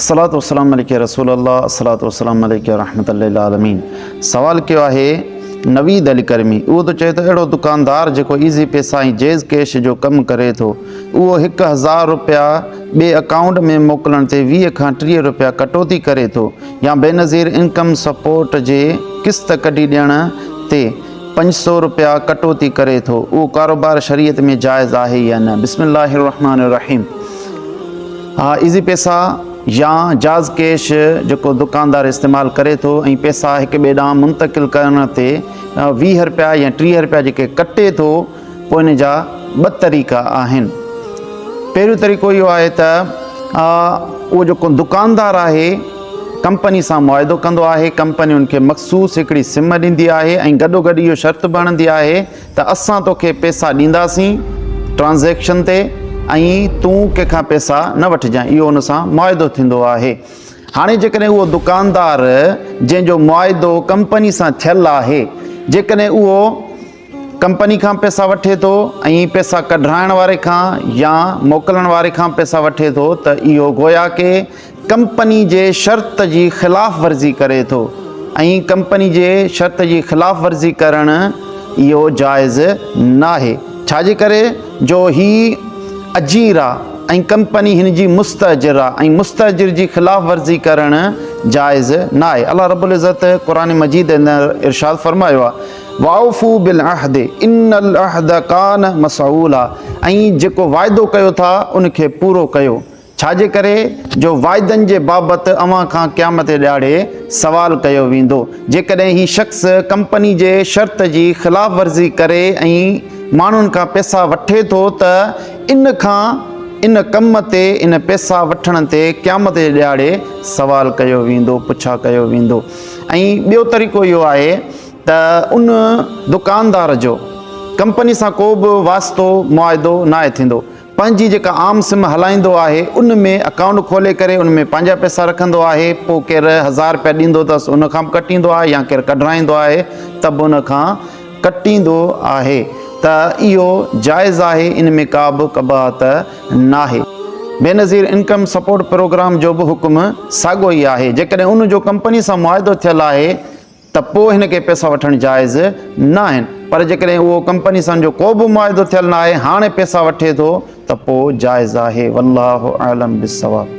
الصلوة والسلام عليك يا رسول الله الصلوة والسلام عليك يا رحمة للعالمين سوال ڪيو آهي نويد علي ڪرمي اهو ته چئي ته اهڙو دڪاندار جيڪو ايزي پيسا ۽ جيز ڪيش جو ڪم ڪري ٿو اهو هڪ هزار رپيا ٻئي اڪائونٽ ۾ موڪلڻ تي ويهه کان ٽيهه رپيا ڪٽوتي ڪري ٿو يا بينظير انڪم سپورٽ جي قسط ڪڍي ڏيڻ تي پنج سؤ رپيا ڪٽوتي ڪري ٿو اهو ڪاروبار شريعت ۾ جائز آهي يا نه بسم الله الرحمٰن الرحيم ها ايزي پيسا يا جاز ڪيش جيڪو دڪاندار استعمال ڪري ٿو ۽ پيسا هڪ ٻئي ڏانهن منتقل ڪرڻ تي ويهه رپيا يا ٽيهه رپيا جيڪي ڪٽي ٿو پوء ان جا ٻه طريقا آهن. پهريون طريقو اهو آهي ته اهو جيڪو دڪاندار آهي ڪمپني سان معاهدو ڪندو آهي، ڪمپني ان کي مخصوص هڪڙي سم ڏيندي آهي ۽ گڏوگڏ اهو شرط به هڻندي آهي ته اسان توکي پئسا ڏينداسين ٽرانزيڪشن تي ۽ تون ڪنهن کان پئسا نه وٺجانء اهو ان سان معاهدو ٿيندو آهي. هاڻي جيڪڏهن اهو دڪاندار جنهن جو معاهدو ڪمپني سان ٿيل آهي جيڪڏهن اهو ڪمپني کان پئسا وٺي ٿو ۽ پئسا ڪڍرائڻ واري کان يا موڪلڻ واري کان پئسا وٺي ٿو ته اهو گويا ڪي ڪمپني جي شرط جي خلاف ورزي ڪري ٿو ۽ ڪمپني جي شرط جي خلاف ورزي ڪرڻ اهو جائز ناهي ڇاجي ڪري جو هي اجير آ ۽ ڪمپني هن جي مستاجر آ ۽ مستاجر جي خلاف ورزي ڪرڻ جائز ناهي الله رب العزت قرآن مجيد اندر ارشاد فرمايو آ واوفو بالعهد ان العهد ڪان مسعولا ۽ جيڪو واعدو ڪيو ٿا ان کي پورو ڪيو ڇاجي ڪري جو واعدن جي بابت اوهان کان قيامت ڏهاڙي سوال ڪيو ويندو جيڪڏهن هي شخص ڪمپني جي شرط جي خلاف ورزي ڪري ۽ ماڻهن کان پيسا وٺي ٿو ته ان کان ان ڪم تي ان پيسا وٺڻ تي قيامت جي ڏهاڙي سوال ڪيو ويندو پڇا ڪيو ويندو ۽ ٻيو طريقو اهو آهي ته ان دڪاندار جو ڪمپني سان ڪو به واسطو معاهدو ناهي ٿيندو، پنهنجي جيڪا عام سم هلائيندو آهي ان ۾ اڪائونٽ کولي ڪري ان ۾ پنهنجا پئسا رکندو آهي پوء ڪير هزار رپيا ڏيندو اٿس ان کان به ڪٽيندو آهي يا ڪير ڪڍرائيندو آهي ته به ان کان ڪٽيندو آهي ته اهو جائز آهي ان ۾ ڪا به قباحت ناهي. بينظير انڪم سپورٽ پروگرام جو به حڪم ساڳو ئي آهي جيڪڏهن ان جو ڪمپني سان معاهدو ٿيل آهي ته پوء هن کي پئسا وٺڻ جائز نه آهن پر جيڪڏهن اهو ڪمپني سان جو ڪو به معاهدو ٿيل نه آهي هاڻي پئسا وٺي ٿو ته پوء جائز آهي والله اعلم بالصواب.